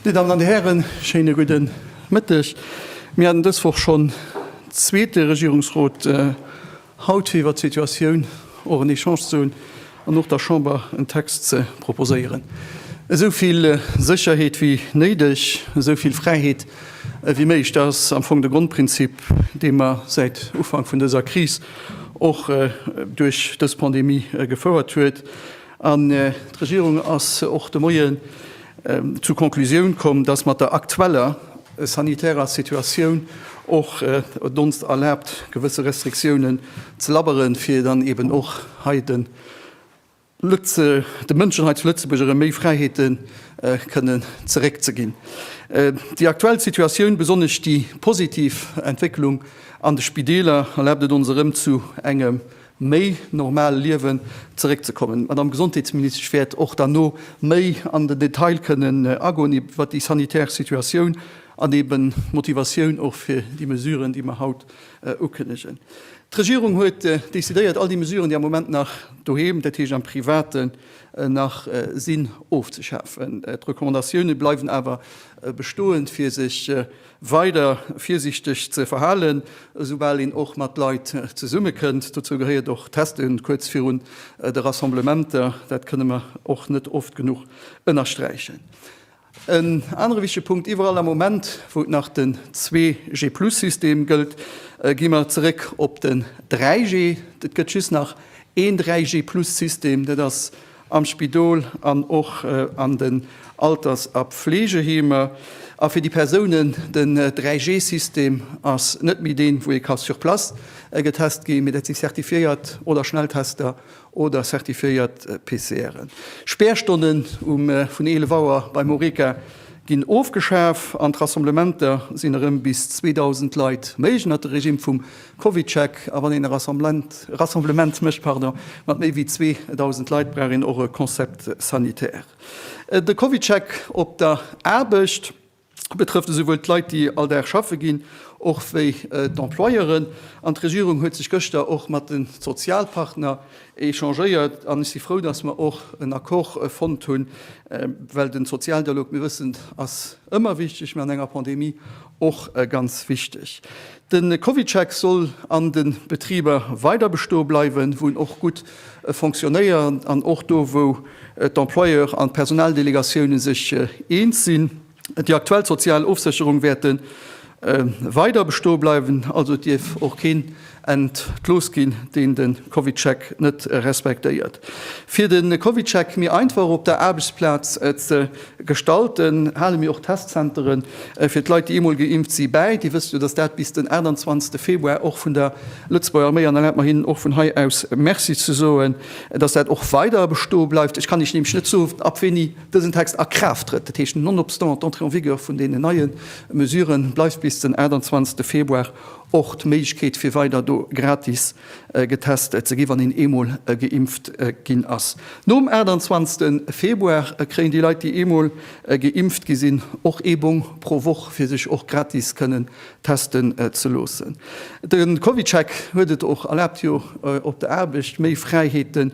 Dir Dammen an Dir Hären, schéine gudde Mëtteg. Mir haten dës Woch schonn zweete Regierungsrot. haut iwwert d'Situatioun och en Echange ze hunn an och der Chamber en Text ze proposéieren. Esou vill Sécherheet wéi néideg, esou vill Fräiheet ewéi méiglech, dat ass am Fong de Grondprinzip, dee mer säit Ufank vun dëser Kris och duerch dës Pandemie gefouert huet. An d'Regierung ass och de Moien zur Conclusioun komm, dass mat der aktueller sanitärer Situatioun och et ons erlaabt, gewësse Restriktiounen ze labberen, fir dann eben och hei de Mënschen hei zu Lëtzebuerg erëm méi Fräiheete kënnen zeréckzeginn. Déi aktuell Situatioun, besonnesch déi positiv Entwécklung an de Spideeler, erlaabt et ons erëm zu engem méi normal Liewen zeréckzekommen. D'Madamm Gesondheetsministesch wäert och derno méi an den Detail kënnen agoen iwwert déi sanitär Situatioun an eben d'Motivatioun och fir déi Mesuren, déi mer haut ukënnegen. D'Regierung huet decidéiert, all déi Mesuren, déi am Moment nach doheem, dat heescht am Privaten, nach sinn, ofzeschafen. D'Recommandatioune bleiwen awer bestoen, fir sech, weider virsiichteg ze verhalen, esoubal een och mat Leit zesummekënnt. Dozou gehéiert och d'Testen kuerz virun de Rassemblementer, dat kënne mer och net oft genuch ënnersträichen. En anere wichtege Punkt, Iwwerall am Moment, wou et nach den 2G-Plus-System gëllt, gi mer zeréck op den 3G. Et gëtt just nach een 3G-Plus-System, dat ass am Spidol an och an den Alters a Pflegeheemer, a fir déi Persounen, den 3G System ass net méi deen, wou ee ka sur place getest ginn, mee dat si certifiéiert oder Schnelltester oder certifiéiert PCRen. Späerstonnen um vun 11 Auer beim Horeca ginn ofgeschaf an d'Rassemblementer sinn erëm bis 2.000 Leit méiglech ënnert de Regime vum Covidcheck, a wann een e Rassemblement mécht mat méi wéi 2.000 Leit, brauch een och e Concept sanitaire. De Covidcheck op der Aarbecht betrëfft esouwuel d'Leit, déi all Dag schaffe ginn, och wéi d'Employeuren. An d'Regierung huet sech gëschter och mat de Sozialpartner échangéiert, an ech si frou, datt mer och en Accord fonnt hunn, well de Sozialdialog, mir wëssen, ass ëmmer wichteg, mä an enger Pandemie och ganz wichteg. De CovidCheck soll an de Betriber weider bestoe bleiwen, wou en och gutt fonctionnéiert an och do, wou d'Employeur an d'Personaldelegatioune sech eens sinn. Déi aktuell sozial Ofsécherung wäerte weider bestoe bleiwen. Also et dierf och keen entlooss ginn, deen de CovidCheck net respektéiert. Fir de CovidCheck méi einfach op der Aarbechtsplaz ze Gestalten, hale mir och Testzentere fir d'Leit, déi eemol geimpft si, bäi. Dir wësst jo, datt dat bis den 28 Februar och vun der Lëtzebuerger Arméi, an erlaabt mer hinnen och vun hei aus Merci ze soen, datt dat och weider bestoe bleift. Ech kann Iech nämlech net soen, ab wéini dësen Text a Kraaft trëtt. Dat heescht, nonobstant d'Entrée en vigueur vun deenen neie Mesuren, bleift bis den 28 Februar och d'Méiglechkeet, fir weider do gratis getest ze ginn, wann een eemol geimpft ginn ass. Nom 28 Februar kréien déi Leit, déi eemol geimpft gi sinn, och ee Bong pro Woch, fir sech och gratis kënnen testen ze loossen. De CovidCheck huet et och erlaabt, jo op der Aarbecht méi Fräiheete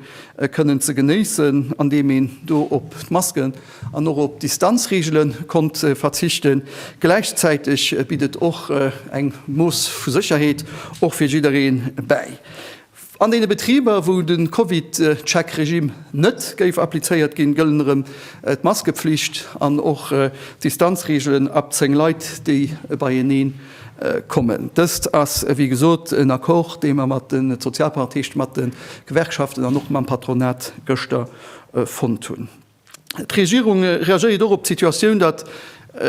kënnen ze genéissen, andeem een do op d'Masken an och op Distanzreegele konnt verzichten. Gläichzäiteg bitt et och eng Mooss vu Sécherheet och fir jidderee bäi. An deene Betriber, wou de CovidCheck-Regimm net géif applizéiert ginn, gëllen erëm d'Maskepflicht an och d'Distanzreegelen ab 10 Leit, déi beienee kommen. Dëst ass wéi gesot en Accord, dee mer mat de Sozialparteichte, mat de Gewerkschaften an och mam Patronat gëschter fonnt hunn. D'Regierung reagéiert och op d'Situatioun, datt,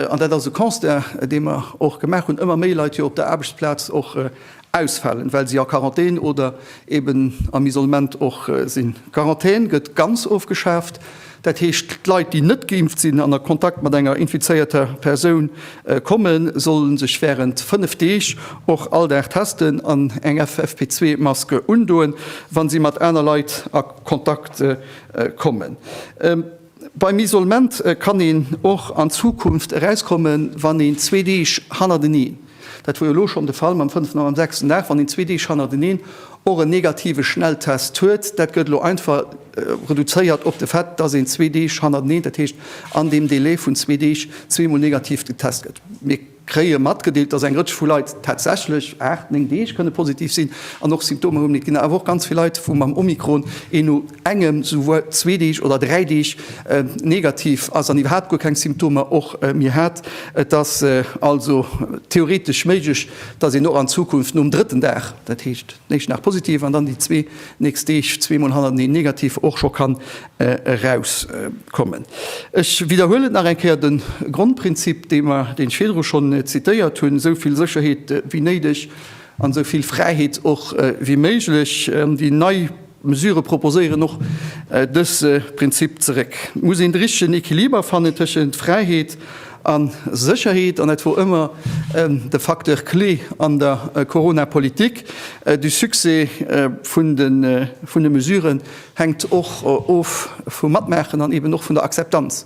an dat ass e Constat, dee mer och gemaach hunn, ëmmer méi Leit jo op der Aarbechtsplaz och ausfalen, well si a Quarantän oder eben am Isolement och sinn. D'Quarantän gëtt ganz ofgeschaaft, dat heescht, d'Leit, déi net geimpft sinn an a Kontakt mat enger infizéierter Persoun kommen, sollen sech wärend 5 Deeg och all Dag testen an eng FFP2-Mask undoen, wa si mat aner Leit a Kontakt sinn. kommen. Beim Isolement kann een och an Zukunft erauskommen, wann een zwee Deeg hannerteneen, dat wor jo elo schonn de Fall mam fënneften a mam sechsten Dag, wann een zwee Deeg hannerteneen och en negative Schnelltest huet. Dat gëtt elo einfach reduzéiert op de Fait, dass een zwee Deeg hannerteneen, dat heescht an deem Delai vun zwee Deeg, zweemol negativ getest gëtt. kréie matgedeelt, dass eng Rëtsch vu Leit tatsächlech aacht, néng Deeg kënne positiv sinn an och Symptomer hunn. Et ginn awer och ganz vill Leit, wou mam Omikron een no engem, souguer zwee Deeg oder dräi Deeg negativ ass an iwwerhaapt guer keng Symptomer och méi hat. Et ass also theoretesch méiglech, dass een och an Zukunft nom drëtten Dag, dat heescht, den éischten Dag positiv an dann déi zwee nächst Deeg zweemol hannerteneen negativ, och scho kann erauskommen. Ech widderhuelen nach eng Kéier de Grondprinzip, dee mer, deen ech virdru schonn zitéiert hunn, esou vill Sécherheet wéi néideg an esou vill Fräiheet och wéi méiglech. Déi nei Mesurë proposéieren och dëse Prinzip zeréck. Et muss een de richtegen Equiliber fannen tëschent Fräiheet a Sécherheet, an dat wor ëmmer de Facteur clé an der Corona-Politik. De Succès vun de Mesuren Hänkt och of vum Matmaachen an eben och vun der Akzeptanz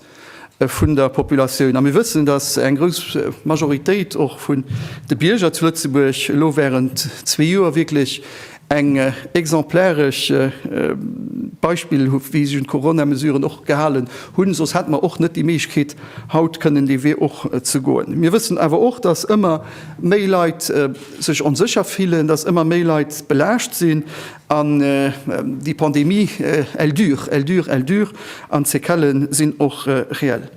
vun der Populatioun. A mir wëssen, dass eng grouss Majoritéit och vun de Bierger zu Lëtzebuerg elo während zwee Joer wierklech eng exemplaresch Beispill hu wéi sech un d'Coronamesuren och gehalen hunn. Soss hätte mer och net déi Méiglechkeet haut kënnen dee Wee och ze goen. Mir wëssen awer och, dass ëmmer méi Leit sech onsécher fillen, dass ëmmer méi Leit belaascht sinn. An déi Pandemie, elle dure, elle dure, elle dure, an d'Sequelle sinn och reell.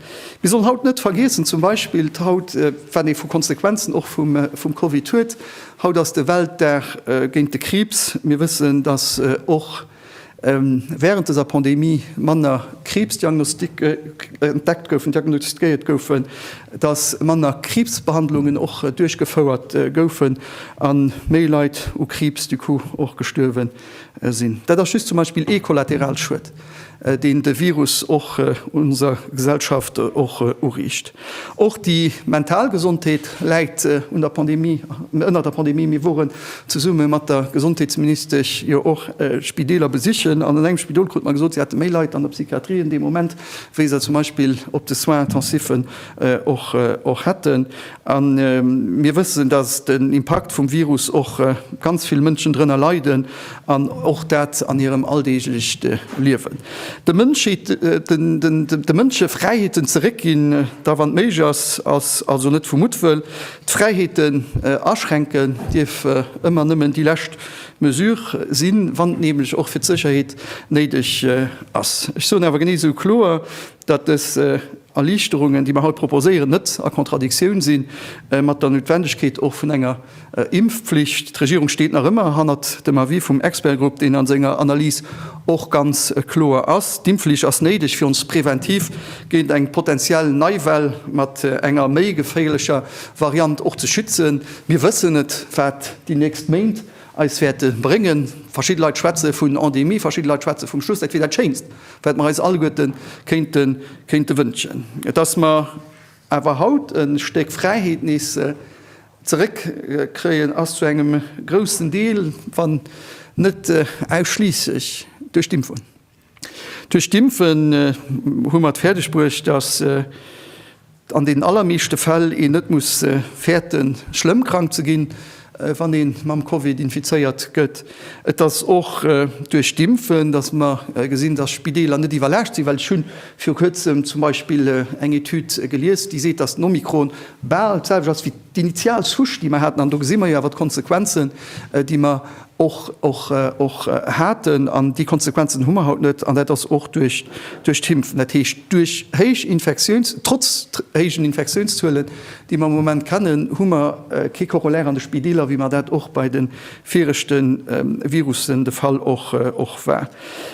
Mir sollen haut net vergiessen, zum Beispill haut, wat ee vu Konsequenzen och vum Covid huet, haut ass de Weltdag géint de Kriibs. Mir wëssen, datt och während dëser Pandemie manner Kriibsdiagnosticke entdeckt goufen, diagnostiquéiert goufen. dass manner Kriibsbehandlungen och duerchgefouert goufen a méi Leit u Kriibs du coup och gestuerwe sinn. Dat ass just zum Beispill ee Kollateralschued, deen de Virus och onser Gesellschaft och uriicht. Och déi mental Gesondheet läit un der Pandemie, ënner der Pandemie. Mir woren zesumme mat der Gesondheetsministesch jo och Spideeler besichen an an engem Spidol krute mer gesot, si hätte méi Leit an der Psychiatrie an deem Moment wéi se zum Beispill op de Soins intensiven och hätten. A mir wëssen, datt den Impakt vum Virus och ganz vill Mënschen drënner leiden, an och dat an hirem alldeeglecht Liewen. De Mënschheet, de Mënsche Fräiheeten zeréckginn, da wann et méiglech ass, ass also net vu Muttwëll. D'Fräiheeten aschränken dierf ëmmer nëmmen déi lescht Mesure sinn, wann et nämlech och fir d'Sécherheet néideg ass. Ech soen awer genee esou kloer, datt dës Erliichterungen, déi mer haut proposéieren, net a Kontradiktioun si mat der Noutwendegkeet och vun enger Impfpflicht. D'Regierung steet nach ëmmer hannert dem Avis vum Expertgrupp, deen a senger Analys och ganz kloer ass. D'Impfflicht ass néideg, fir ons präventiv géint eng potentiell nei Well mat enger méi geféierlecher Variant och ze schützen. Mir wëssen net, wat déi nächst Méint eis wäerte bréngen. Verschidde Leit schwätze vun Endemie, verschidde Leit schwätze vum Schluss. Dat wier dat Schéinst, wat mer eis alleguerte kéinte wënschen, dass mer awer haut e Stéck Fräiheet nees zeréckkréien, ass zu engem groussen Deel, wann net ausschliisslech, duerch d'Impfung. Duerch d'Impfen hu mer et fäerdeg bruecht, dass an den allermeeschte Fäll een net muss fäerten, schlëmm krank ze ginn, wann ee mam Covid infizéiert gëtt. Et ass och duerch d'Impfen, dass mer gesinn, dass Spideeler net iwwerlaascht sinn, well ech hu viru Kuerzem zum Beispill eng Etüd gelies, déi seet, dass den Omikron bal d'selwecht ass wéi d'initial Souche, déi mer haten. An do gesi mer jo awer d'Konsequenzen, déi mer och haten. An déi Konsequenzen hu mer haut net. An dat ass och duerch d'Impfen, dat heescht duerch héich Infektiouns-, trotz héijen Infektiounszuelen, déi mer am Moment kennen, hu mer kee Corollaire an de Spideeler, wéi mer dat och bei de viregte Virussen de Fall och war.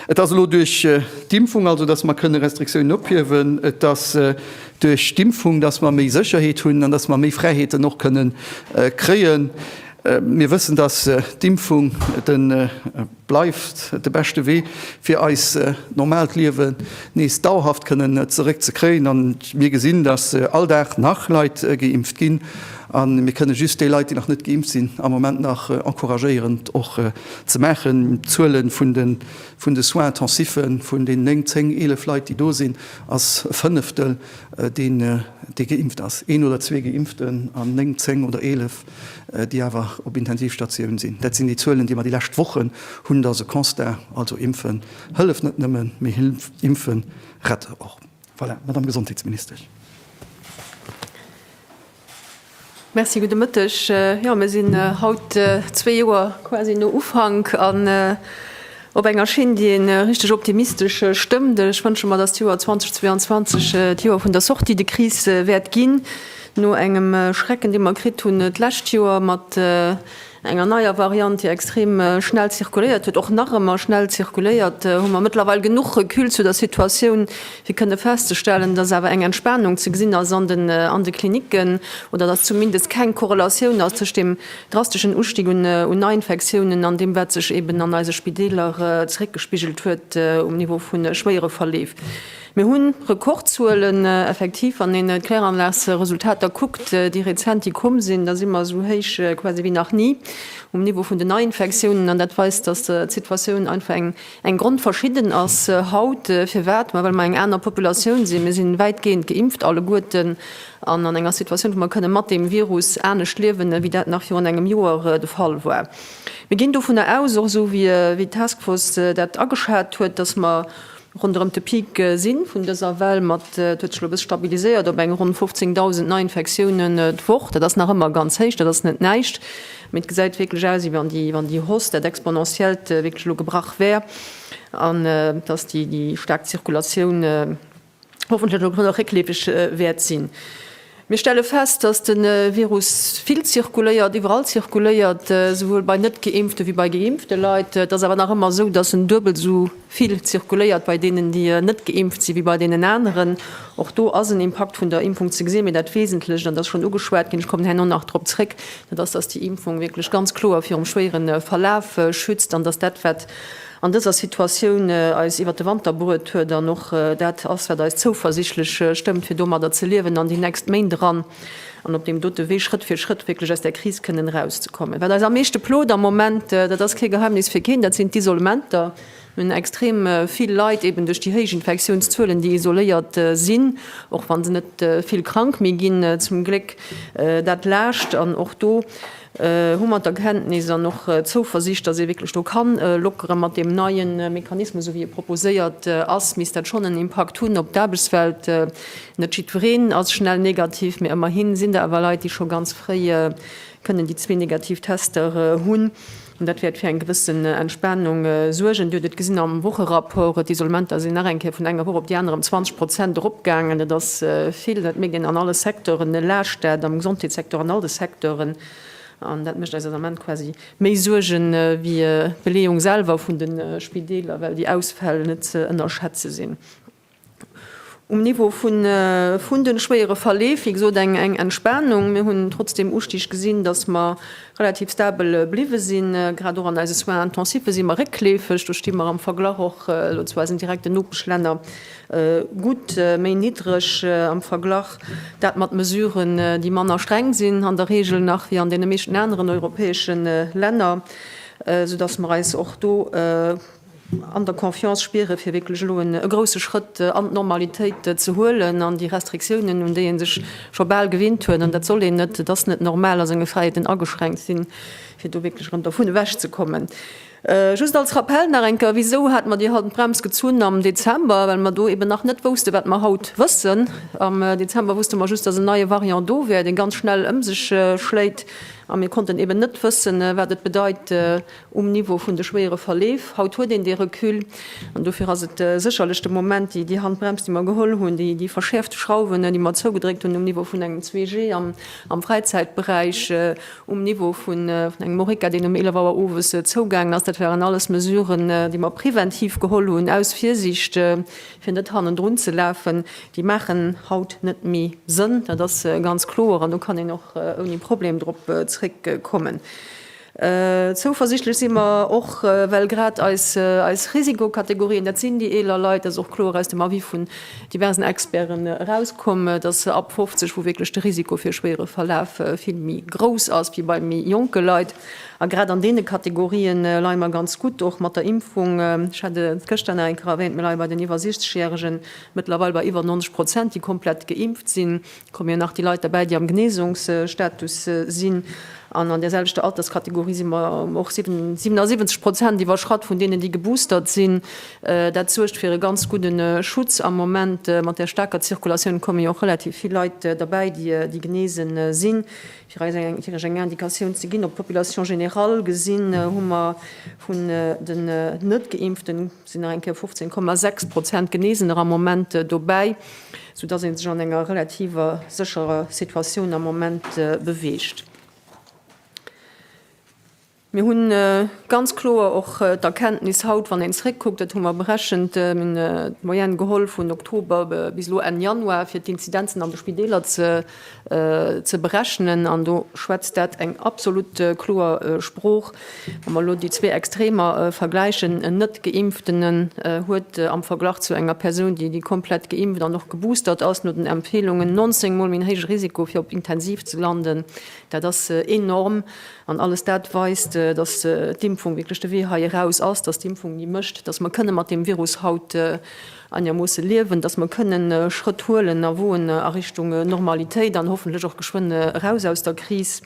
Et ass elo duerch d'Impfung also, dass mer kënne Restriktiounen ophiewen. Et ass duerch d'Impfung, dass mer méi Sécherheet hunn an dass mer méi Fräiheeten och kënne kréien. Mir wëssen, dass d'Impfung de bleift de beschte Wee, fir eis normaalt Liewe nees dauerhaft kënnen zeréck ze kréien. A mir gesinn, dass all Dag nach Leit geimpft ginn. A mir kënne just déi Leit, déi nach net geimpft sinn, am Moment nach encouragéieren, et och ze maachen. D'Zuele vun de Soins intensiven, vun den néng, zéng, eelef Leit, déi do sinn, ass e Fënneftel, dee geimpft ass. Een oder zwee Geimpften an néng, zéng oder eelef. déi awer op Intensivstatioun sinn. Dat sinn déi Zuelen, déi mer déi lescht Wochen hunn. Dat ass e Constat. Also impfen hëlleft net nëmmen, mee impfen rett och. Voilà, Madame Gesondheetsministesch. Merci, gudde Mëtteg. Jo, mir sinn haut zwee Joer quasi no Ufank an, Op enger Schinn, déi ee richteg optimistesch stëmmt. Ech wënsche mer, datt d'Joer 2022 d'Joer vun der Sortie de crise wäert ginn, no engem Schrecken, dee mer kritt hunn d'lescht Joer mat enger neier Variant, déi extrem schnell zirkuléiert huet, och nach ëmmer schnell zirkuléiert, hu mer mëttlerweil genuch Recul zu der Situatioun, fir kënne festzestellen, datt awer eng Entspanung ze gesinn ass an de Klinicken oder datt zumindest keng Korrelatioun ass tëscht deem, drasteschen Ustig un Neiinfektiounen an deem, wat sech eben an eise Spideeler zeréckgespigelt huet um Niveau vu schwéiere Verleef. Mir hu Rekordzuelen, effektiv. Wann een d'Kläranlagsresultater kuckt, déi rezent, déi komm sinn, da si mer esou héich quasi wéi nach ni um Niveau vun den Neiinfektiounen. An dat weist, dass d'Situatioun einfach eng Eng grondverschidden ass haut, firwat? Ma well mer eng aner Populatioun sinn. Mir si wäitgehend geimpft alleguerten an an enger Situatioun, wou mer kënne mat deem Virus anescht liewen, wéi dat nach virun engem Joer de Fall war. Mir ginn dovunner aus, och esou wéi d'Taskforce dat ageschat huet, datt mer ronderëm de Peak si vun dëser Well. Mat, et huet sech elo e bësse stabiliséiert op eng ronn 15.000 Neiinfektiounen d'Woch. Dat ass nach ëmmer ganz héich, dat ass net näischt. Mee et gesäit wierklech aus, wéi wann déi Hausse, dat Exponentiellt, wierklech elo gebrach wär an dass déi staark Zirkulatioun hoffentlech elo grad réckleefeg wäert sinn. Mir stelle fest, dass de Virus vill zirkuléiert, iwwerall zirkuléiert, souwuel bei Net-Geimpfte wéi bei geimpfte Leit. Et ass awer nach ëmmer esou, dass en duebel esou Vill zirkuléiert bei deenen, déi net geimpft sinn, wéi bei deenen aneren. Och do ass en Impakt vun der Impfung ze gesinn. Mee dat Wesentlecht, an dat ass schonn ugeschwat ginn, ech kommen herno nach drop zréck, dat ass, dass déi Impfung wierklech ganz kloer virum schwéiere Verlaf schützt an dass dat, wat an dëser Situatioun eis iwwert de Wanter bruet huet, dann och dat ass, wat eis zouversichtlech stëmmt, fir domadder ze liewen an déi nächst Méint eran. an op deem dote Wee Schrëtt fir Schrëtt wierklech aus där Kris kënnen erauszekommen. Wat eis am meeschte plot am Moment, dat ass kee Geheimnis fir keen, dat sinn d'Isolementer. Mir hunn extrem vill Leit eben duerch déi héich Infektiounszuelen, déi isoléiert sinn, och wa se net vill krank méi ginn, zum Gléck dat Laascht. An och do hu mer d'Erkenntnis an och d'Zouversicht, datt ee wierklech do ka lockeren. Mat deem neie Mechanismus, esou wéi e proposéiert ass, misst dat schonn en Impakt hunn op d'Aarbechtswelt. Net jiddwereen ass schnell negativ, mee ëmmerhi sinn der awer Leit, déi scho ganz fréi kënnen déi zwee negativ Tester hunn. An dat wäert fir eng gewëss Entspanung suergen. Dir hutt et gesinn am Wocherapport, D'Isolementer sinn nach eng Kéier vun enger Woch op déi aner ëm 20 Prozent eropgaangen. Dat ass vill. Dat mierkt een an alle Secteuren. E laascht dat am Gesondheetssecteur an all de Secteuren. An dat mécht eis am Ament quasi méi Suerge wéi d'Beleeung selwer vun de Spideeler, well déi Ausfäll net ze ënnerschätze sinn. Um Niveau vun de schwéiere Verleef, wéi gesot, eng Entspanung. Mir hunn trotzdeem Ustig gesinn, datt mer relativ stabel bliwwe sinn. Grad och an eise Soins intensiffe si mer réckleefeg. Do sti mer am Verglach och elo zu eisen direkten Nopeschlänner gutt méi niddreg am Verglach. Dat mat Mesuren, déi manner streng sinn an der Reegel nach wéi an deene meeschten aneren europäesche Länner, soudatt mer eis och do, an der Confiance spieren, fir wierklech elo e grousse Schrëtt an d'Normalitéit ze huelen an déi Restriktiounen, un déi ee sech scho bal gewinnt huet, an dat soll een net, et ass net normal, a senge Fräiheeten ageschränkt sinn, fir do wierklech erëm dervun ewech ze kommen. Just als Rappell nach eng Kéier, Wisou hate mer déi Handbremse gezunn am Dezember? Well mer do eeben nach net woussten, wat mer haut wëssen. Am Dezember wusste mer just, dass en neie Variant do wär, dee ganz schnell ëm sech schléit, a mir konnten eeben net wëssen, wat et bedeit um Niveau vun de schwéiere Verleef. Haut huet een dee Recul an dofir ass et sécherlech de Moment, déi Handbrems, déi mer geholl hunn, déi verschäerfte Schrauwen, déi mer zougedréckt hunn um Niveau vun engem 2G am Fräizäitberäich, um Niveau vun engem Horeca, deen um 11 Auer owes zougaangen ass, dat waren alles Mesuren, déi mer preventiv geholl hunn aus Virsiicht, fir net hannendrun ze lafen. Déi maachen haut net méi Sënn, dat ass ganz kloer an do kann een och ouni Problem drop zréckkommen. Zouversichtlech si mer och, well grad eis Risikokategorien, dat sinn déi eeler Leit, dat ass och kloer aus dem Avis vun diversen Experten erauskomm, dass se ab 50, wou wierklech de Risiko fir e schwéiere Verlaf vill méi grouss ass wéi bei méi jonke Leit. A grad an deene Kategorië leie mer ganz gutt, och mat der Impfung. Ech hat et gëschter nach eng Kéier erwähnt, Mir leie bei den iwwer 60 Järegen mëttlerweil bei iwwer 90 Prozent, déi komplett geimpft sinn. Kommen jo nach déi Leit derbäi, déi am Genesungsstatus sinn. An an där selwechter Alterskategorie si mer ëm och 77 Prozent iwwerschratt vun deenen, déi geboostert sinn. Dat suergt fir e ganz gudde Schutz am Moment. Mat där staarker Zirkulatioun kommen jo och relativ vill Leit derbäi, déi genesen sinn. Fir eis iech eng Indikatioun ze ginn, op d'Population générale gesinn, hu mer vun den Net-Geimpften, Et sinn nach eng Kéier 15,6 Prozent Geneesener am Moment dobäi, sou dass ee sech an enger relativer sécherer Situatioun am Moment beweegt. Mir hu ganz kloer och d'Erkenntnis haut, wann een zréckkuckt, dat hu mer berechent, d'Moyenne geholl vun Oktober bis elo Enn Januar, fir d'Inzidenzen an de Spideeler ze ze berechnen, an do schwätzt dat eng absolut kloer Sprooch, wa mer elo déi zwee Extremer vergläichen, en Net-Geimpften huet am Verglach zu enger Persoun, déi déi komplett geimpft an och geboostert ass, no den Empfeelungen 19 mol méi en héije Risiko fir op d'Intensiv ze landen. Dat ass enorm, an alles dat weist, datt d'Impfung wierklech de Wee hei eraus ass, datt d'Impfung déi mécht, datt mer kënne mat deem Virus haut. Anermoosse liewen, dass mer kënnen Schrëtt huelen a woen a Richtung Normalitéit an hoffentlech och geschwënn eraus aus der Kris.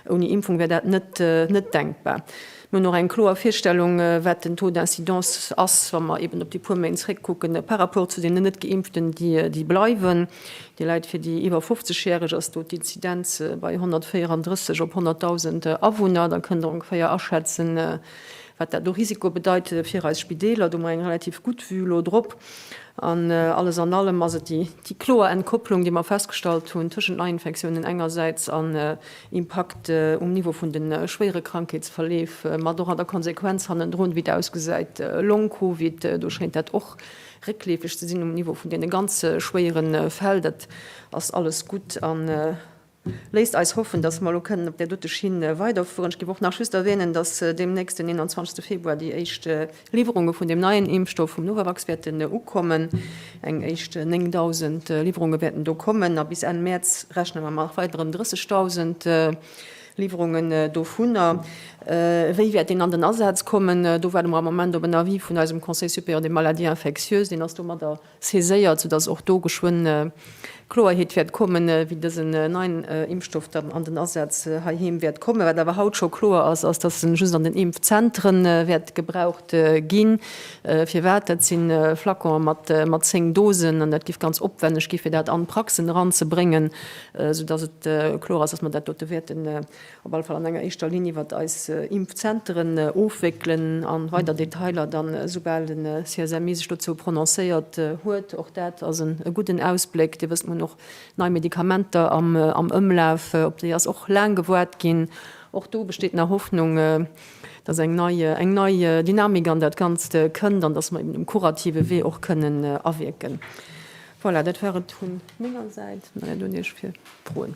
Ouni Impfung wär dat net net denkbar. Mir hunn och eng kloer Virstellung, wat den Taux d'incidence ass, wa mer eben op déi puer Méint zréckkucken, par rapport zu deenen Net-Geimpften, déi déi bleiwen. Dir Leit, fir déi iwwer 50 Järeg ass do d'Inzidenz bei 134 op 100.000 Awunner. Da kënnt Der ongeféier aschätzen, wat dat u Risiko bedeit fir eis Spideeler, do hu mer eng relativ gutt Vue elo drop. An alles an allem ass et déi kloer Entkopplung, déi mer festgestallt hunn tëschent Neiinfektiounen engersäits an Impakt um Niveau vun de schwéiere Krankheetsverleef, mat och an der Konsequenz hannendrun, wéi et ausgesäit, Long-Covid. Do schéint dat och réckleefeg ze sinn um Niveau vun deene ganz schwéiere Fäll. Dat ass alles gutt. Léisst eis hoffen, dass mer elo kënnen op där dote Schinn weiderfueren. Ech giff och nach just erwänen, dass deemnächst, den 21. Februar, déi éischt Liwwerunge vun deem neien Impfstoff vum Novavax wäerten ukommen. Eng éischt 9.000 Liwwerunge wäerten do kommen a bis Enn Mäerz rechne mer mat weideren 30.000 Liwwerunge dovunner. Wéi wäert deen an den Asaz kommen? Do waarde mer am Moment op en Avis vun eisem Conseil supérieur des maladies infectieuses. Deen ass domadder saiséiert, soudass och do geschwënn Kloerheet wäert kommen, wéi dësen neien Impfstoff dann an den Asaz heiheem wäert kommen. Wat awer haut scho kloer ass, ass, dass en just an den Impfzentere wäert gebraucht ginn. Firwat? Dat si Flaconen mat 10 Dosen, an dat géif ganz opwänneg ginn, fir dat an d'Praxen eranzebréngen, soudass et kloer ass, dass mer dat dote wäerten op alle Fall an enger éischter Linn iwwert eis Impfzenteren ofwéckelen a weider Detailer da soubal de CSMI sech dozou prononcéiert huet. Och dat ass e gudden Ausbléck. Dir wësst, mir hunn och nei Medikamenter am Ëmlaf, op déi ass och laang gewaart ginn. Och do besteet nach Hoffnung, dass eng nei Dynamik an dat Ganzt kënnt an dass mer eben um kurative Wee och kënnen awierken. Voilà, dat war et vu menger Säit. Mei dann un Iech fir Froen.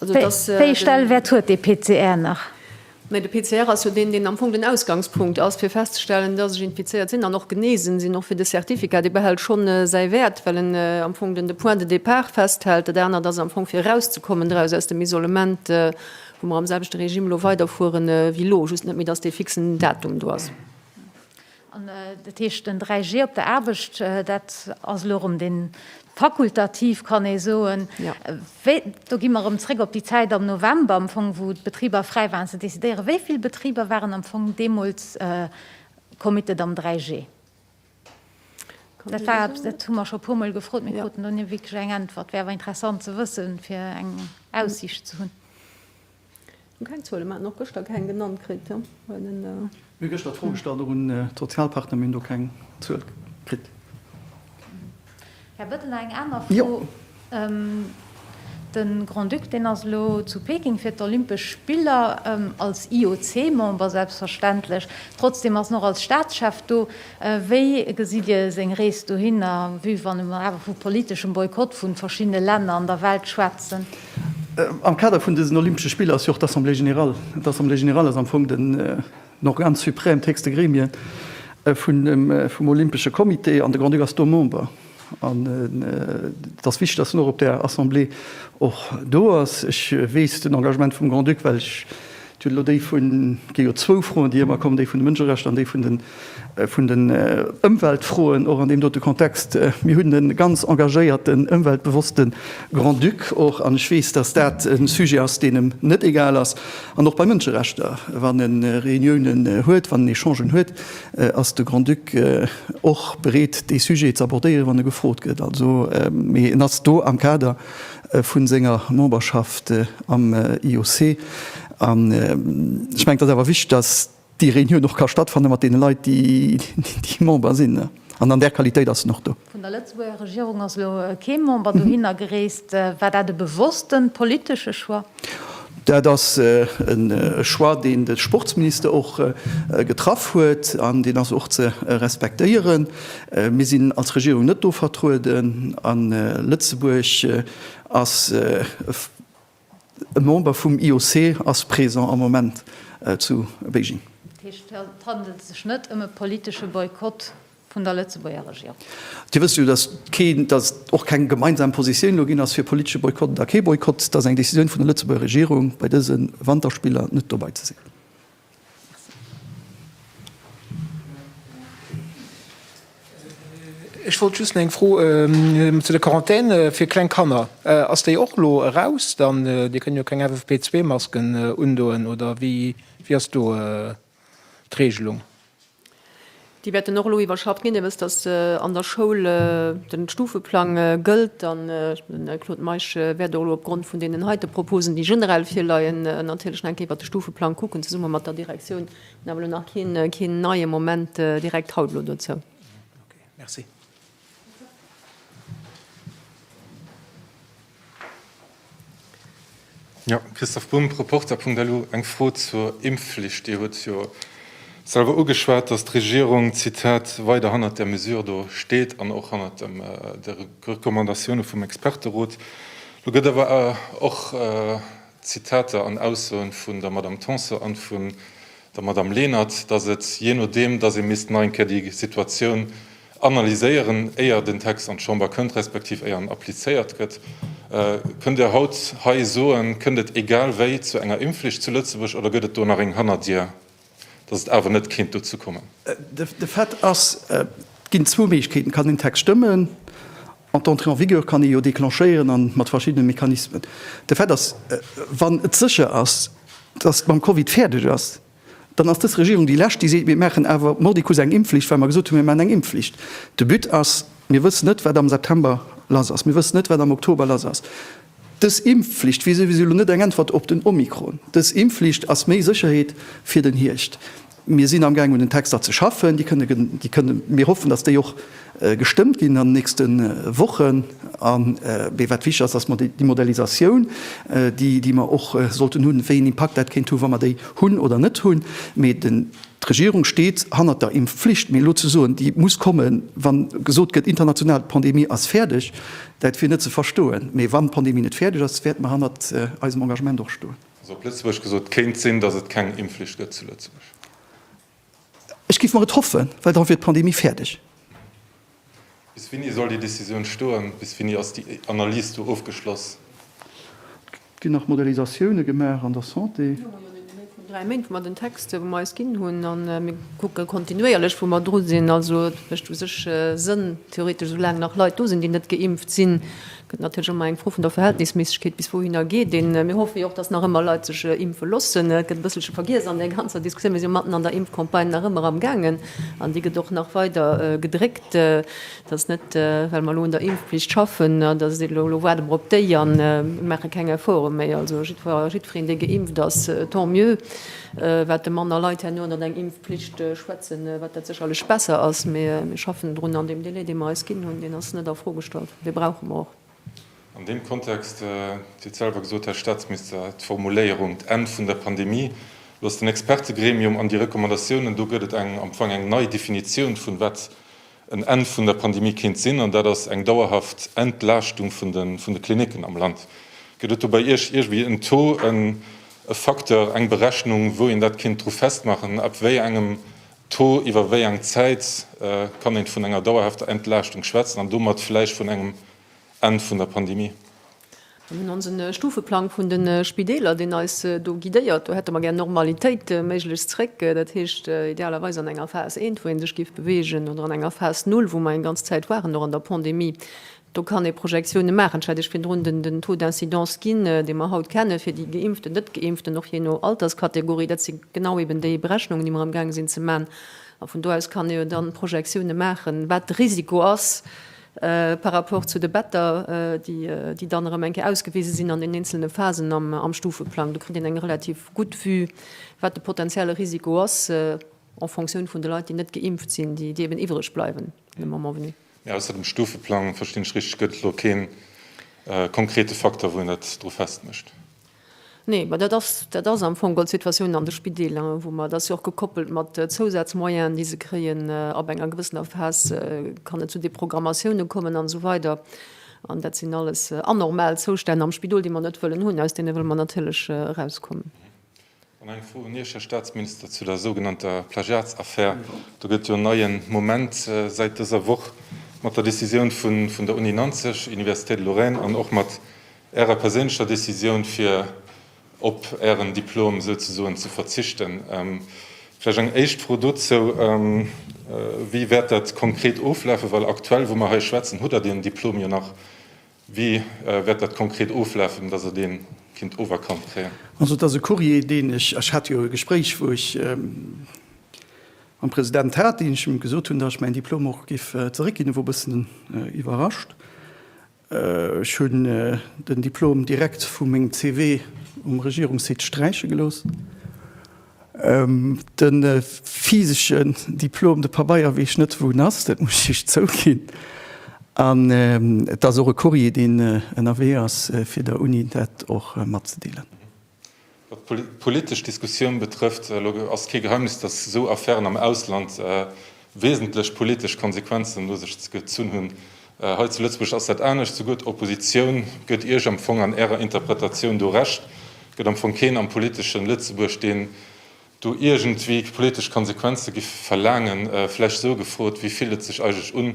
Wéi ee Stellwäert huet dee PCR nach? Mä de PCR ass jo deen, deen am Fong den Ausgangspunkt ass, fir festzestellen, dass ech infizéiert sinn an och genesen sinn. Och fir de Certificat, dee behält schonn säi Wäert, well en am Fong den de Point de départ festhält. Dat anert ass am Fong, fir erauszekommen draus, aus dem Isolement, wou mer am selwechte Regime elo weiderfueren wéi elo, just net méi, dass dee fixen Datum do ass. Dat heescht den 3G op der Aarbecht, dat ass elo erëm dee fakultativ, kann ee soen. Do gi mer erëm zréck op déi Zäit am November am Fong, wou d'Betriber fräi waren ze decidéieren. Wéi vill Betriber waren am Fong deemools committed am 3G? Dat war eppes, dat hu mer scho e puermol gefrot, mee kruten do ni wierklech eng Äntwert. Wär awer interessant ze wëssen, fir eng Aussiicht ze hunn. Mir hu keng Zuelen, mir haten och gëschter keng genannt kritt. Mir hu gëschter d'Fro gestallt, och un d'Sozialpartner, mir hunn do keng Zuel kritt. Här Bettel, eng aner Fro. De Grand-Duc, deen ass elo zu Peking fir d'Olympesch Spiller, als IOC-Member selbstverständlech, trotzdem ass en och als Staatschef do. Wéi gesitt Dir seng Rees dohinner, vue wann mer awer vu politeschem Boykott vu verschiddene Länner an der Welt schwätzen? Am Kader vun dësen Olympesche Spiller ass jo och d'Assemblée générale. D'Assemblée générale ass am Fong den Organe suprême, d'héchste Gremie vum Olympesche Comité. An de Grand-Duc ass do Member. An et ass wichteg, datt en och op där Assemblée och do ass. Ech weess den Engagement vum Grand-Duc, well ech Et huet elo déi vun, et gi jo zwou Froen, déi ëmmer kommen, déi vun de Mënscherechter an déi vun den Ëmweltfroen, och an deem dote Kontext. Mir hunn e ganz engagéierten, ëmweltbewosste Grand-Duc och, an ech weess, datt dat e Sujet ass, deen em net egal ass. An och bei Mënscherechter, wann e Reuniounen huet, wann en Echangen huet, ass de Grand-Duc och bereet, dee Sujet z'abordéieren, wann e gefrot gëtt. Also, mee en ass do am Kader. vun senger Memberschaft am IOC. An ech mengen, et ass awer wichteg, dass déi Reunioun och ka stattfanne mat deene Leit, déi Member sinn. An an där Qualitéit ass en och do. Vun der Lëtzebuerger Regierung ass elo kee Member dohinner gereest. War dat e bewosste politesche Choix? Dat ass e Choix, deen de Sportsminister och getraff huet, an deen ass och ze respektéieren. Mir sinn als Regierung net do vertrueden a Lëtzebuerg ass e Member vum IOC, ass présent am Moment zu Beijing. Dat heescht, et handelt sech net ëm e politesche Boykott? Vun der Lëtzebuerger Regierung. Dir wësst jo, datt keen, datt och keng gemeinsam Positioun elo ginn ass fir politesche Boykott oder kee Boykott, datt ass eng Décisioun vun der Lëtzebuerger Regierung, bei dëse Wanterspiller net dobei ze sinn. Ech wollt just eng Fro zu der Quarantän fir kleng Kanner. Ass déi och elo eraus dann? Dir kënnt jo keng FFP2-Masken undoen, oder wéi ass do d'Reegelung? Déi wäerten och elo iwwerschafft ginn. Dir wësst, datt an der Schoul de Stufeplang gëllt. An den Claude Meisch wäert och elo opgrond vun deenen heite Proposen, déi generell virleien, natierlech nach eng Kéier iwwert de Stufeplang kucken, zesumme mat der Direktioun. Mir hunn awer elo nach keen neie Moment direkt haut elo dozou. Okay, merci. Ja, Christoph Bumb, Reporter. Punkt elo eng Fro zur Impfflicht. Dir huet jo selwer ugeschwat, datt d'Regierung, Zitat, weider hannert där Mesure do steet an och hannert dem de Recommandatioune vum Experterot. Lo gëtt awer och Zitater an Aussoen vun der Madame Tanson an vun der Madame Lenert, datt et jee nodeem, datt ee misst nach eng Kéier déi Situatioun, analyséieren, éier den Text an d'Chamber kënnt, respektiv éier en applizéiert gëtt. Kënnt Der haut hei soen, kënnt et egal wéi zu enger Impfflicht zu Lëtzebuerg oder gëtt et do nach eng Hannerdier, dass et awer net kéint dozou kommen? De Fait ass, et ginn zwou Méiglechkeeten, Et kann een de Text stëmmen an d'Entrée en vigueur kann ee jo déclenchéieren a mat verschiddene Mechanismen. De Fait ass, wann et sécher ass, dass et mam Covid fäerdeg ass, dann ass dës Regierung déi Lescht, déi seet, mir maachen awer mordicus eng Impfflicht, well mer gesot hunn, mir maachen eng Impfflicht. De But ass, mir wëssen net, wat am September lass ass, mir wëssen net, wat am Oktober lass ass. Dës Impfflicht wier souwisou elo net eng Äntwert op den Omikron. Dës Impfflicht ass méi Sécherheet fir den Hierscht. Mir sinn amgaang un den Texter ze schaffen, déi kënne, mir hoffen, datt déi och Gestëmmt ginn an den nächste Wochen. A mee wat wichteg ass, ass déi Modellisatioun, déi mer och sollten hunn, wéi een Impakt dat kéint hunn, wa mer déi hunn oder net hunn. Mee d'Regierung steet hannert der Impfflicht. Mee elo ze soen, déi muss kommen, wa gesot gëtt international, d'Pandemie ass fäerdeg, dat wier net ze verstoen. Mee wann d'Pandemie net fäerdeg ass, wäerte mer hannert eisem Engagement och stoen. Also op Lëtzebuergesch gesot, Kéint sinn, datt et keng Impfflicht gëtt zu Lëtzebuerg? Ech géif mer et hoffen, well da wier d'Pandemie fäerdeg. Bis wéini soll déi Decisioun stoen? Bis wéini ass déi Analys do ofgeschloss? Et ginn nach Modellisatioune gemaach an der Santé. Mir hu jo nëmmen eng Méint vun dräi Méint, wou mer den Text, wou mer eis ginn hunn, a mir kucke kontinuéierlech, wou mer dru sinn. Also et mécht u sech Sënn, theoretesch, esou laang nach Leit do sinn, déi net geimpft sinn, Gëtt natierlech ëmmer eng Fro vun der Verhältnisméissegkeet, bis wouhinner geet een. Mir hoffe jo och, datt nach ëmmer Leit sech impfe loossen. Et gëtt e bësselche vergiess an där ganzer Diskussioun. Mir si jo matten an der Impfcampagne nach ëmmer am Gaangen an déi gëtt och nach weider gedréckt. Et ass net, well mer elo un der Impfpflicht schaffen, datt et elo, elo waarde mer op déi an maache keng Efforte méi. Also jiddwer a jiddwereen, dee geimpft ass, tant mieux. Wat de manner Leit herno ënnert eng Impfpflicht schwätzen, wat dat sécherlech besser ass, mee mir schaffen drun an deem Délai, dee mer eis ginn hunn, deen ass net a Fro gestallt. Dee brauche mer och. An deem Kontext, wéi d'selwer gesot hat, Här Staatsminister, d'Formuléierung d'Enn vun der Pandemie loosst den Expertegremium an déi Recommandatiounen, do gëtt et eng am Fong eng nei Definitioun vun wat en Enn vun der Pandemie kéint sinn, an dat ass eng dauerhaft Entlaaschtung vun de vun de Klinicken am Land. Gëtt et do bei Iech iergwéi en Taux, e Facteur, eng Berechnung, wou een dat kéint dru festmaachen, ab wéi engem D'Fro, iwwer wéi eng Zäit kann een vun enger dauerhafter Entlaaschtung schwätzen an domat vläicht vun engem Enn vun der Pandemie? Mir hunn onsen Stufeplang vun den Spideeler, deen eis do guidéiert. Do hätte mer gär Normalitéit méiglechst zréck, dat heescht idealerweis an enger Phase eent, wou een sech giff bewegen oder an enger Phase null, wou mer eng ganz Zäit waren, och an der Pandemie. Do kann ee Projektione maachen. Et hätt ech virdrun den Taux d'incidence ginn, dee mer haut kenne fir déi Geimpften, Net-Geimpften, och jee no Alterskategorie. Dat si genau eben déi Berechnungen, déi mer amgaange sinn ze man. A vun do aus kann ee jo dann Projektione maachen, wat de Risiko ass par rapport zu de Better, déi dann erëm eng Kéier ausgewise sinn an den eenzelne Phasen am Stufeplang. Do kritt een eng relativ gutt Vue, wat de potenzielle Risiko ass en fonction vun de Leit, déi net geimpft sinn, déi eben iwwreg bleiwen le moment venu. Mee ausser dem Stufeplang, verstinn ech richteg, gëtt et elo keen konkrete Facteur, wou een dat dru festmécht? Nee, mä dat ass, dat ass am Fong geholl d'Situatioun an de Spideeler, wou mer, dat ass jo och gekoppelt mat Zousazmoyenen, déi se kréien, ab enger gewëssener Phase kann et zu Deprogrammatioune kommen an esou weider. An dat sinn alles anormal Zoustänn am Spidol, déi mer net wëllen hunn. Aus deene wëlle mer natierlech erauskommen. An eng Fro un Iech, Här Staatsminister, zu der sougenannter Plagiatsaffär. Do gëtt jo en neien Moment säit dëser Woch mat der Decisioun vun der Uni Nanzeg, Université de Lorraine, an och mat Ärer perséinlecher Decisioun, fir op Ären Diplom souzesoen ze verzichten. Vläch eng éischt Fro dozou, Wéi wäert dat konkret oflafen? Well aktuell, wou mer hei schwätzen, hutt Der deen Diplom jo nach Wéi wäert dat konkret oflafen, datt et een kinnt oferkannt kréien? Also et ass e Courrier deen ech, ech hat jo e Gespréich wou ech mam President hat, deen ech him gesot hunn, datt ech mäin Diplom och géif zeréckginn. E wor e bëssen iwwerrascht. Ech hunn den Diplom direkt vu mengem CV um Regierungssite sträiche gelooss. De physesche Diplom, de Pabeier, weess ech net wou en ass, dat muss ech iech zouginn. An et ass och e Courrier, deen ënnerwee ass, fir der Uni dat och matzedeelen. Wat d'politesch Diskussioun betrëfft, elo ass et kee Geheimnis, datt esou Affären am Ausland wesentlech politesch Konsequenzen no sech gezunn hunn. Hei zu Lëtzebuerg ass dat anescht, souguer d'Oppositioun gëtt Iech am Fong an Ärer Interpretatioun do Recht. Et gëtt am Fong keen am politeschen Lëtzebuerg, deen do iergendwéi politesch Konsequenze géif verlaangen. Vläicht esou gefrot, wéi fillt et sech eigentlech un,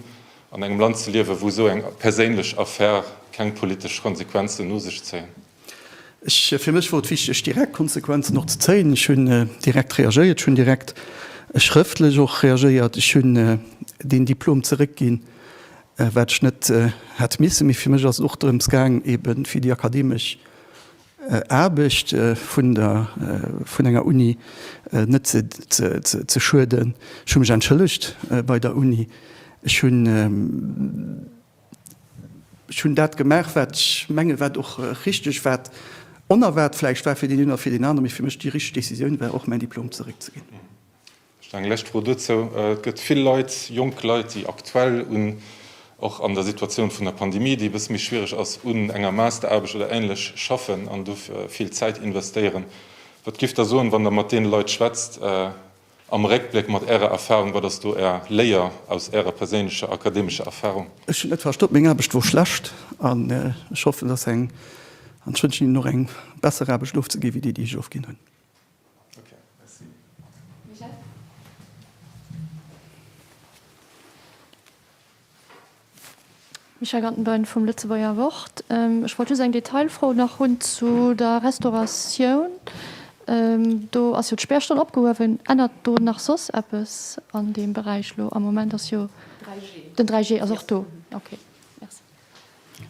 an engem Land ze liewen, wou esou eng perséinlech Affär keng politesch Konsequenzen no sech zéien? Fir mech wor et wichteg direkt Konsequenzen och ze zéien. Ech hunn direkt reagéiert. Ech hunn direkt schrëftlech och reagéiert. Ech hunn deen Diplom zeréckginn, wat ech net hätt missen. Mee fir mech ass et och drëms gaang eben fir déi akademesch Aarbecht vun der, vun enger Uni net ze, ze, ze schueden. Ech hu mech entschëllegt bei der Uni. Ech hunn. Ech hunn dat gemaach, wat ech mengen, wat och richteg, wat onerwaart vläicht war fir deen een oder fir deen anere, mee fir mech déi richteg Decisioun war, och mäin Diplom zeréckzeginn. Vläicht eng lescht Fro dozou, Et gëtt vill Leit, jonk Leit, déi aktuell un, och an der Situatioun vun der Pandemie, déi e bësse méi schwiereg ass, un enger Masteraarbecht oder Ähnlech schaffen an do vill Zäit investéieren. Wat gifft Der soen, wann Der mat deene Leit schwätzt? Am Réckbléck, mat Ärer Erfahrung, wat ass do Är Léier aus Ärer perséinlecher akademescher Erfahrung? Ech hunn net verstoppt, meng Aarbecht wor schlecht an ech hoffen dass eng, an ech wënschen hinnen och eng, besser Aarbecht ofzeginn wéi déi déi ech ofginn hunn. Okay, merci. Michèle. Michel Gantenbein vum Lëtzebuerger Wort. Ech wollt just eng Detailfro nach hunn zu der Restauratioun. Do ass jo d'Spärstonn opgehuewen. Ännert do nach soss eppes an deem Beräich elo? Am Moment ass jo den 3G ass och do. Okay, Merci.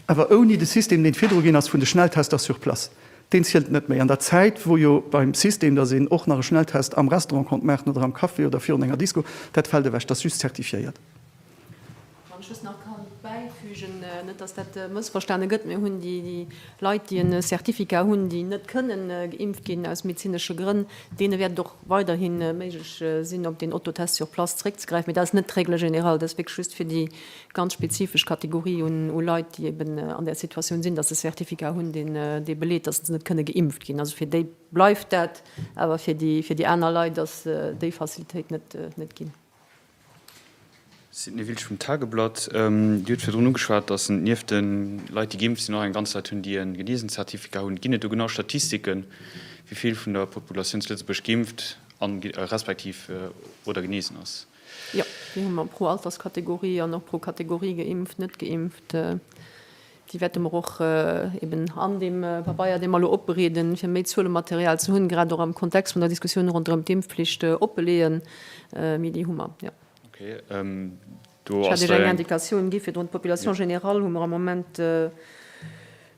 Awer ouni de System, deen et virdru ginn ass vun de Schnelltester sur place. Deen zielt net méi. An der Zäit, wou jo beim System, dass een och nach e Schnelltest am Restaurant konnt maachen oder am Café oder virun enger Disco, dat fält ewech. Dat ass just zertifiéiert. Wann ech just nach kann bäifügen, net dass dat mëssverstane gëtt, mir hunn déi Leit, déi e Certificat hunn, déi net kënnen geimpft ginn aus medezinesche Grënn, deene wäert et och weiderhi méiglech sinn op deen Autotest sur place zeréckzegräifen. Mee dat ass net d'Règle générale, dat ass wierklech just fir déi ganz spezifesch Kategorie un Leit, déi eben an där Situatioun sinn, dass se e Certificat hunn, dee beleet, dass se net kënne geimpft ginn. Also fir déi bleift dat, awer fir déi aner Leit ass déi Facilitéit net ginn. D'Signe Wiltsch vum Tageblatt, Dir hutt virdrun ugeschwat, datt et nieft de Leit, déi geimpft sinn, och eng ganz Rei Leit hunn, déi e geneesent Zertifikat hunn. Ginn et do genau Statistiken, wéi vill vun der Populatioun zu Lëtzebuerg geimpft respektiv oder genesen ass? Jo, déi hu mer pro Alterskategorie an och pro Kategorie geimpft, net geimpft. Déi wäerte mer och eben an deem Pabeier, dee mer elo opbereeden, fir méi Zuelematerial ze hunn, grad och am Kontext vun der Diskussioun ronderëm d'Impfflicht, opbeleeën. Mee déi hu mer, jo. Ech hat Iech eng Indikatioun gi virdrun. D'Population générale hu mer am Moment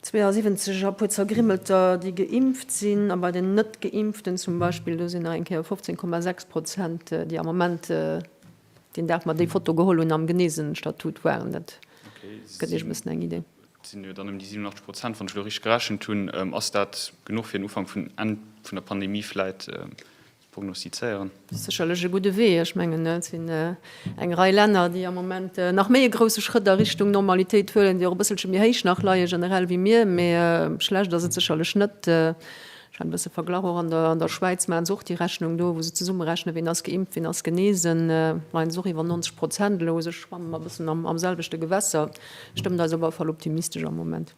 72 a puer Zergrimmelter, déi geimpft sinn. A bei den Net-Geimpften zum Beispill, do sinn nach eng Kéier 15,6 Prozent, déi am Moment, Deen Dag mer déi Foto geholl hunn am Geneesenstatut waren. Dat gëtt Iech e bëssen eng Idee. Et sinn jo dann ëm déi 87 Prozent, wann ech elo richteg gerechent hunn. Ass dat genuch fir den Ufank vun Enn vun der Pandemie vläit ze prognostizéieren? Dat ass sécherlech e gudde Wee. Ech mengen et sinn eng Rei Länner, déi am Moment nach méi e grousse Schrëtt a Richtung Normalitéit huelen, déi och e bësselche méi héich nach leie generell wéi mir. Mee schlecht ass et sécherlech net. Ech hat e bësse verglach, och an der Schwäiz maachen se och déi Rechnung do, wou se zesummerechnen, ween ass geimpft, ween ass genesen. Majo, se ass och iwwer 90 Prozent elo. Also ech schwamme mer e bëssen am selwechte Gewässer. Stëmmt eis op alle Fall optimistesch am Moment.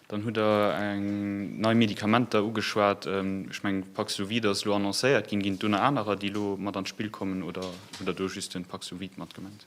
Dann hutt Der eng nei Medikamenter ugeschwat. Ech mengen, Paxlovid ass elo annoncéiert ginn. Ginn et do nach anerer, déi elo mat an d'Spill kommen, oder hutt Der do just den Paxlovid mat gemengt?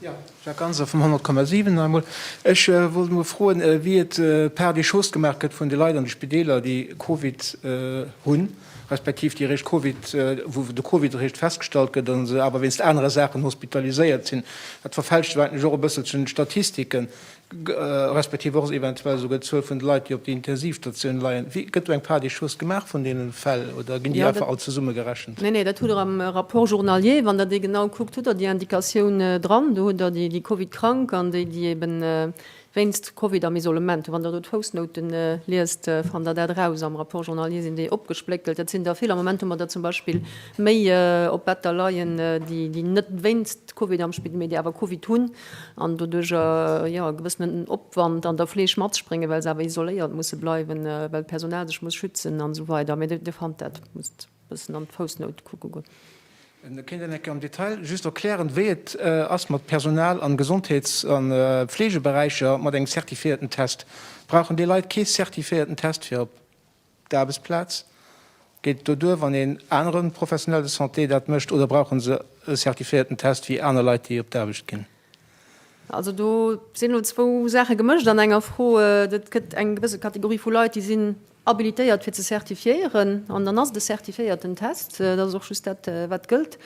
Jo, Jacques Ganser vum 100,7 nach emol. Ech wollt emol froen, wéi et par des choses gemaach gëtt vun de Leit an de Spideeler, déi Covid hunn, respektiv déi eréischt Covid, wou de Covid eréischt festgestallt gëtt a se awer wéinst anere Saachen hospitaliséiert sinn. Dat verfälscht jo eigentlech och e bësselchen d'Statistiken. respektiv och eventuell esouguer d'Zuel vun de Leit, déi op de Intensivstatioune leien? Wéi gëtt do eng Part des choses gemaach vun deene Fäll oder ginn déi einfach all zesumme gerechent? Nee, nee, dat hutt Der am Rapport journalier, wann Der dee genau kuckt, hutt Der déi Indikatioun dran. Do hutt Der déi Covid-Krank an déi, déi ebe wéinst Covid am Isolement sinn. Wann Der do d'Foussnoute liest, fannt Der dat eraus. Am Rapport journalier sinn déi opgespléckelt. Dat sinn der vill. Am Moment hu mer der zum Beispill méi op Better leien, déi net wéinst Covid am Spidol, mee déi awer Covid hunn. an doduerch jo e gewëssenen Opwand an der Fleeg matspréngen, well se awer isoléiert musse bleiwen, well d'Personal sech muss schützen an esou weider. Mee Dir fannt dat, musst e bëssen an d'Foussnout kucke goen. Kéint een enke am Detail just erklären, wéi et ass mat Personal am Gesondheets a Fleegeberäicher mat engem zertifiéierten Test? Brauchen déi Leit kee zertifiéierten Test, fir op D'Aarbechtsplaz geet doduer, wann een anere Professionel de Santé dat mécht, oder brauche se e certifiéierten Test wéi aner Leit, déi op d'Aarbecht ginn? Also do sinn elo zwou Saache gemëscht an enger Fro. Et gëtt eng gewësse Kategorie vu Leit, déi sinn habilitéiert fir ze certifiéieren an dann ass et e certifiéierten Test. Dat ass och just dat wat gëllt,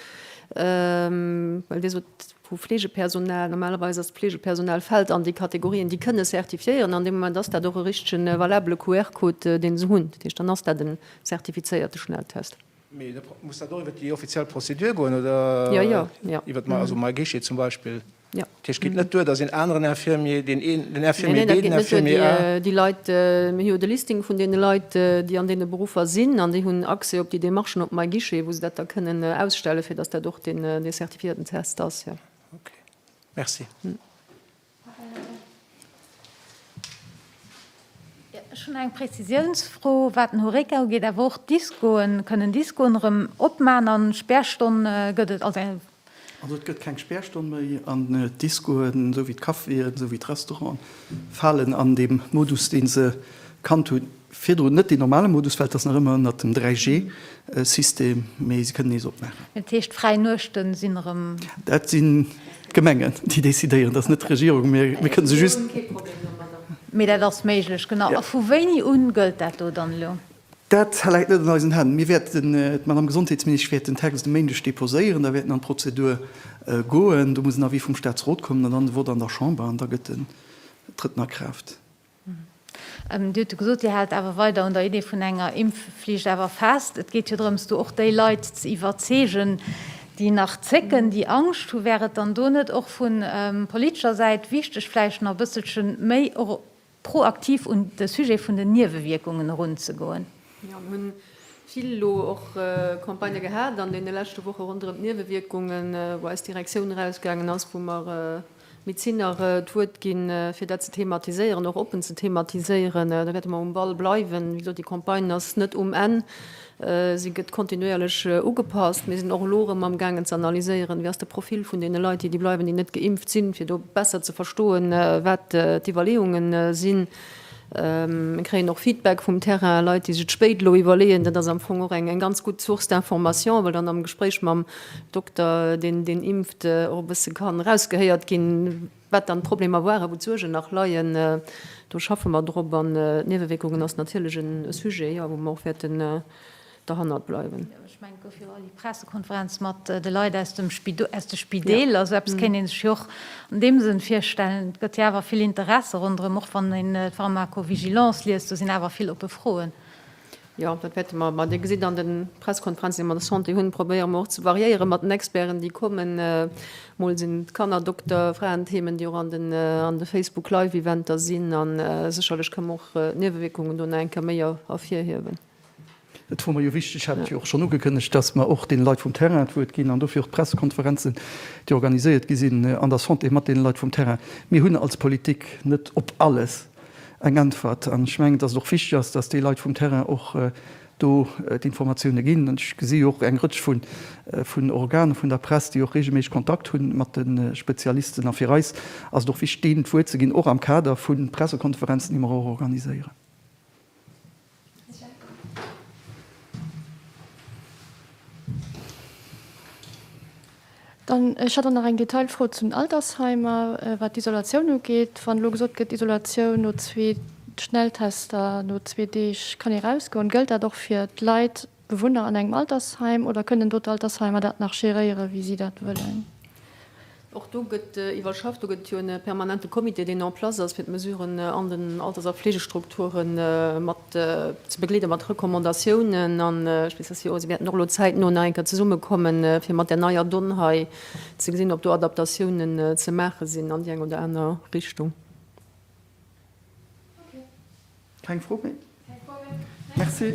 well Dir sot, Vu Fleegepersonal, normalerweis ass d'Fleegepersonal fält an déi Kategorien, déi kënne certifiéieren. An deem Moment ass dat och e richtegen valabele QR-Code, dee se hunn. Dat heescht, dann ass dat e zertifizéierte Schnelltest. Mee da muss dat och iwwer déi offiziell Prozedur goen, oder? Jo, jo, jo. Iwwer d'Ma-, also MyGuichet zum Beispill. Jo. Dat heescht, et geet net duer, dass een aneren Infirmier, deen een, den Infirmier B, den Infirmier A. Nee, nee, dat geet net duer. Déi, déi Leit, mir hu jo de Listing vun deene Leit, déi an deene Beruffer sinn, an déi hunn Accès op déi Demarchen op MyGuichet, wou se dat da kënnen ausstellen, fir dass dat och dee, dee Fir den Test ass, jo. Ok, merci. Ech hunn eng Prezisiounsfro, wat den Horeca ugeet, awer och d'Discoen. Kënnen d'Discoen erëm opman a Spärstonn gëtt et, also eng. Also et gëtt keng Spärstonn méi an d'Discoen, esou wéi d'Caféen, esou wéi d'Restauranten falen an deem Modus, dee se kannt hunn. Virdrun net deen normale Modus, well et ass nach ëmmer ënnert dem 3G System, mee se kënnen nees opmaachen. Dat heescht d'fräi Nuechte sinn erëm. Dat sinn d'Gemengen déi decidéieren, dat ass net d'Regierung. Mir kënnen se just. Mir hunn kee Problem domadder. Mee dat ass méiglech, genau. A vu wéini un gëllt dat do dann elo? Dat läit net an eisen Hänn. Mir wäerten, d'Madame Gesondheetsministesch wäert den Text e Méindeg deposéieren, da wäert en an d'Prozedur goen, do muss en Avis vum Staatsrot kommen an dann de Vote an der Chamber an da gëtt en, trëtt en a Kraaft. Dir hutt jo gesot, Dir haalt awer weider un der Idee vun enger Impfflicht awer fest. Et geet jo drëms, do och déi Leit ze iwwerzeegen, déi nach zécken, déi Angscht hunn. Wär et dann do net och vu politescher Säit wichteg, vläicht nach e bësselche méi och proaktiv un de Sujet vun den Niewewierkungen erunzegoen? Jo, mir hu vill elo och Campagnë gehat an deene leschte Woche ronderëm d'Niewewierkungen, wou eis Direktioun erausgaangen ass, wou mer Mir zinn nach d'Wuert ginn, fir dat ze thematiséieren, och oppen ze thematiséieren. Da wäerte mer um Ball bleiwen. Wéi gesot, déi Campagne ass net um Enn. Si gëtt kontinuéierlech ugepasst. Mir sinn och elo erëm amgaangen ze analyséieren, Wéi ass de Profil vun deene Leit, déi déi bleiwen, déi net geimpft sinn, fir do besser ze verstoen, wat d'Iwwerleeunge sinn. Mir kréien och Feedback vum Terrain, Leit, déi sech d'Spéit elo iwwerleeën. Dat ass am Fong och eng ganz gutt Source d'information, well dann am Gespréich mam Dokter, deen deen impft, och e bësse kann erausgehéiert ginn, wat dann d'Problemer waren, wou d'Suergen nach leien. Do schaffe mer drop. An d'Niewewierkungen ass natierlech e Sujet, jo, wou mer och wäerten, derhannert bleiwen. Ech mengen, et gouf jo och eng Pressekonferenz mat de Leit aus de Spideeler. Esou eppes kéint ee sech jo och an deem Sënn virstellen. Et gëtt jo awer vill Interesse ronderëm. Och wann een d'Pharmacovigilance liest, do sinn awer vill oppe Froen. Jo, dat wäerte mer. Mä Dir gesitt an de Pressekonferenzen, déi mer an der Santé hunn, probéiere mer och ze variéiere mat den Experten, déi kommen. Mol sinn et Kannerdokter, Fraenthemen, déi och an de Facebook-Live-Eventer sinn. A sécherlech kënnen mer och d'Niewewierkungen do nach eng Kéier méi ervirhiewen. Et wor mer jo wichteg, hat jo och schonn ugekënnegt, dass mer och deene Leit vum Terrain d'Wuert ginn an dofir och d'Pressekonferenzen, déi organiséiert gi sinn an der Santé mat deene Leit vum Terrain. Mir hunn als Politik net op alles eng Äntwert an ech mengen, dass et och wichteg ass, dass déi Leit vum Terrain och do d'Informatioune ginn. An ech gesi jo och eng Rëtsch vun Organer vun der Press, déi och reegelméisseg Kontakt hu mat de Spezialisten. A fir eis ass et och wichteg, deenen d'Wuert ze ginn, och am Kader vu Pressekonferenzen, déi mer och organiséieren. Dann, ech hat dann nach eng Detailfro zu den Altersheimer, wat d'Isolatioun ugeet. Wann elo gesot gëtt, Isolatioun no zwee Schnelltester, no zwee Deeg kann ee erausgoen, gëllt dat och fir d'Leit, Bewunner an engem Altersheim oder kënnen do d'Altersheimer dat nach géréieren, wéi si dat wëllen? Och do gëtt iwwerschafft. Do gëtt et jo e permanente Comité, deen en place ass, fir d'Mesuren an den Alters a Fleegestrukture mat ze begleeden, mat Recommandatiounen. An ech weess, datt si och, si wäerten och elo zäitno nach eng Kéier zesummekommen, fir mat där neier Donn hei ze gesinn, ob do Adaptatiounen ze maache sinn an déi eng oder aner Richtung. Keng Fro méi? Keng Fro méi. Merci.